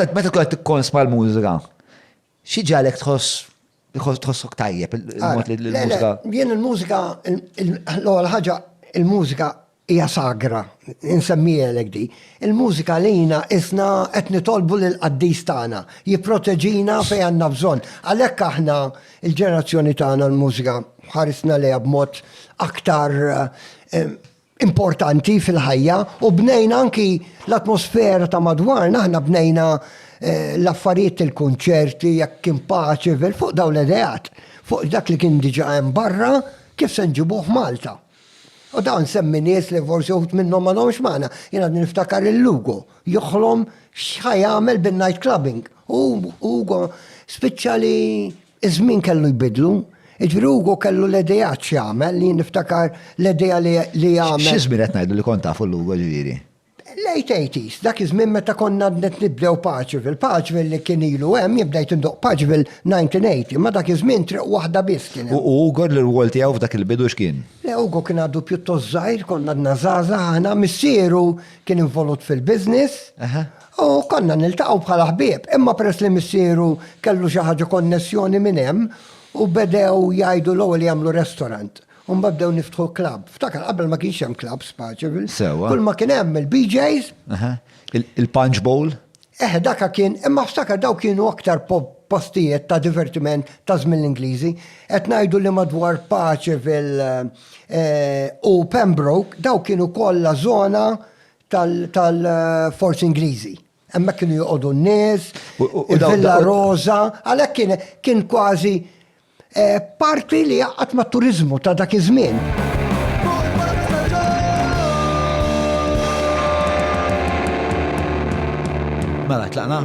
Meta meta tkun qed tikkonsma l-mużika, xi ġalek tħoss tħoss- tħossok tajjeb il- il-mod li Le, le, l-mużika. Jien il-mużika, il- il- l-ewwel ħaġa, il-mużika hija sagra, insemmiehelek di. Il-mużika lina isna qed nitolbu lill-qaddis tagħna, jipproteġina fejn għandna bżonn. Għalhekk aħna l-ġenerazzjoni tagħna l-mużika ħarisna lejha b'mod aktar eh, importanti fil-ħajja u bnejna anki l-atmosfera ta' madwarna, aħna bnejna eh, l-affarijiet il-kunċerti, jekk kien paċi, fuq daw l-edeat, fuq dak li kien diġa hemm barra, kif se nġibuh Malta. U dawn semmi nies li forsi uħut minnhom ma domx magħna, jiena niftakar il-Lugo, joħlom x'ħaj jagħmel bin-night clubbing. U Ugo spiċċa li Iż-żmien kellu jbiddlu. Jiġifieri Hugo kellu l-ideat x'jagħmel, li jien niftakar l-idea li għamel. Xi żmien qed ngħidu li kont tafu lil Hugo ġifieri? Late eighties, dak iż-żmien meta konna għadna qed nibdew Paċville. Paċville li kien ilu hemm, jien bdejt indoqq Paċville 1980, imma dak iż-żmien triq waħda biss kien hemm. U Hugo l-irwol tiegħu f'dak il-bidu x'kien? Le Hugo kien għadu pjuttost żgħir, konna għadna żgħażagħ aħna, missieru kien involut fil-business, U konna niltaqgħu bħala ħbieb, imma peress li missieru kellu xi ħaġa konnessjoni minn hemm u bedew jgħidu l-ewwel jagħmlu restaurant u mbagħad bdew niftħu club. Ftakar qabel ma kienx hemm clubs f'Paċeville. Sewwa. Kull ma kien hemm il-BJ's. Aha. Il-Punch Bowl? Eħe, daka kien, imma ftakar daw kienu aktar postijiet ta' divertiment ta' żmien l-Ingliżi. Qed ngħidu li madwar Paċeville u Pembroke daw kienu kollha żona tal-forzi Ingliżi. Hemmhekk kienu joqogħdu n-nies, il-Villa Rosa, għalhekk kien kważi eh, parti li jaqgħad mat-turiżmu ta' dak iż-żmien. Mela, tlaqna.